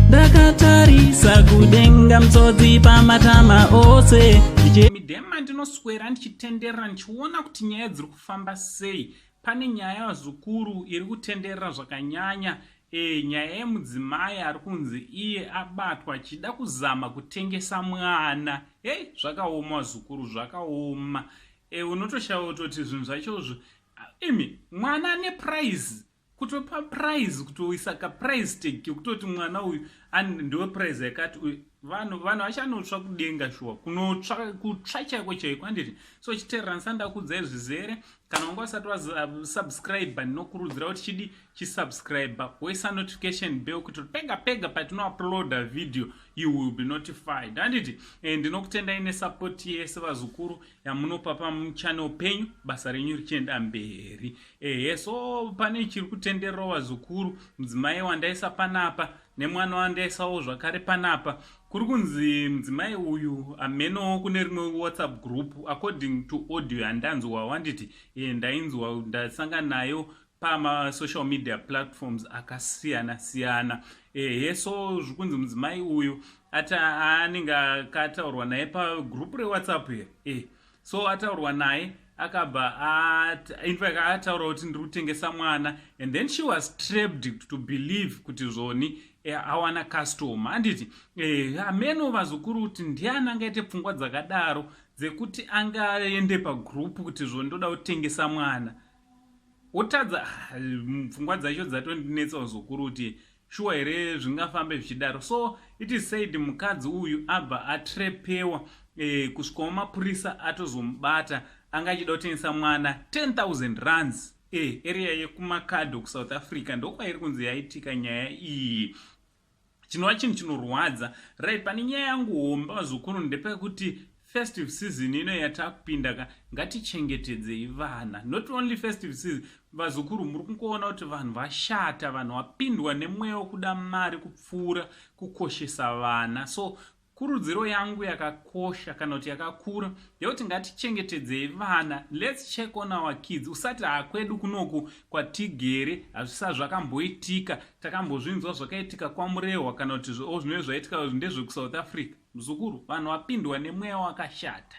ndakatarisa kudenga mtsodzi pamatama ose midema ndinoswera ndichitenderera ndichiona kuti nyaya dziri kufamba sei pane nyaya yazukuru iri kutenderera zvakanyanya Eeh nyaya yemudzimai arikunzi iye abatwa achida kuzama kutengesa mwana hey zvakaoma wazukuru zvakaoma e, unotoshaya utoti zvinhu zvachozvo imi mwana ane prize kutopa prize kutoisa kaprize tag kekutoti mwana uyu ndewe prize yakati uyu vanhu vanhu vachanotsva kudenga shuwa kunotsva kutsva chaiko chaiko handiti so chiteeranisa ndakuudzai zvizere kana wanga usati wasubscribe ndinokurudzira kuti chidi chisubscribe woisa notification bell kuti pega pega patinouploada video you will be notified handiti eh, ndinokutendai nesupport yese vazukuru yamunopa pamuchannel penyu basa renyu richienda mberi ehe so pane chiri kutenderera vazukuru mudzimai wandaisa panapa nemwanoandaesawo zvakare panapa kuri kunzi mudzimai uyu amenowo kune rimwe whatsapp group according to audio yandanzwa wanditi e, ndainzwa ndasangana nayo pamasocial media platforms akasiyana siyana ehe so zviri kunzi mudzimai uyu ati aanenge akataurwa naye pagroup rewhatsapp here e, so ataurwa naye akabva infact ataura kuti ndiri kutengesa mwana and then she was trapped to believe kuti zvoni eh, awana customer anditi eh, ameno vazukuru kuti ndiani angaite pfungwa dzakadaro dzekuti angaende pagroup kuti zvoni ndoda kutengesa mwana otadza ah, pfungwa dzacho dzatondinetsa vazukuru kuti Shuwa here zvingafambe zvichidaro so it is said mukadzi uyu abva atrepewa eh, kusvikawo mapurisa atozomubata anga achida kutengesa mwana 10000 runs eh, area yekumakadho kusouth africa ndokwairi kunzi yaitika nyaya iyi chinova chinhu chinorwadza right pane nyaya yangu homba vazukuru ndepekuti festive season ino yatakupinda ka ngatichengetedzei vana not only festive season vazukuru muri kungoona kuti vanhu vashata vanhu vapindwa nemweya wekuda mari kupfuura kukoshesa vana so kurudziro yangu yakakosha kana kuti yakakura ndeyekuti ngatichengetedzei vana lets check on our kids usati hakwedu kunoku kwatigere hazvisa zvakamboitika takambozvinzwa zvakaitika kwamurehwa kana kuti o zvinove zvaitika ndezvekusouth africa Mzukuru vanhu vapindwa nemweya wakashata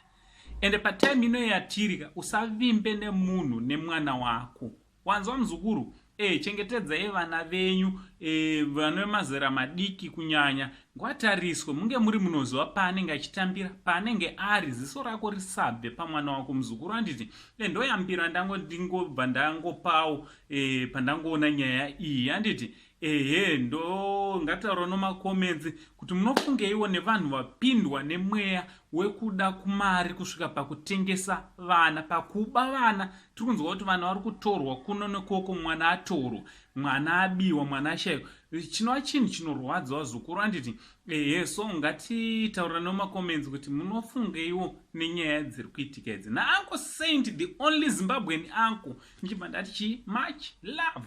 ende patime ino yatiri ka usavimbe nemunhu nemwana wako wanzwa mzukuru e, chengetedzai vana venyu e, eh, vana vemazera madiki kunyanya ngwatariswe munge muri munoziva paanenge achitambira paanenge ari ziso rako risabve pamwana wako muzukuru anditi e, ndoyambira ndango ndingobva ndangopawo e, pandangoona nyaya iyi anditi ehe ndo ngataura nomacomments kuti munofungeiwo nevanhu vapindwa nemweya wekuda kumari kusvika pakutengesa vana pakuba vana tiri kunzwa kuti vana vari kutorwa kuno nekoko mwana atorwa mwana abiwa mwana ashayiwa chinova chinhu chinorwadza wazukuru anditi ehe so ngatitaura nomacomments kuti munofungeiwo nenyaya dziri kuitika idzi naanko saint the only zimbabwean anko ndichibva ndati chii much love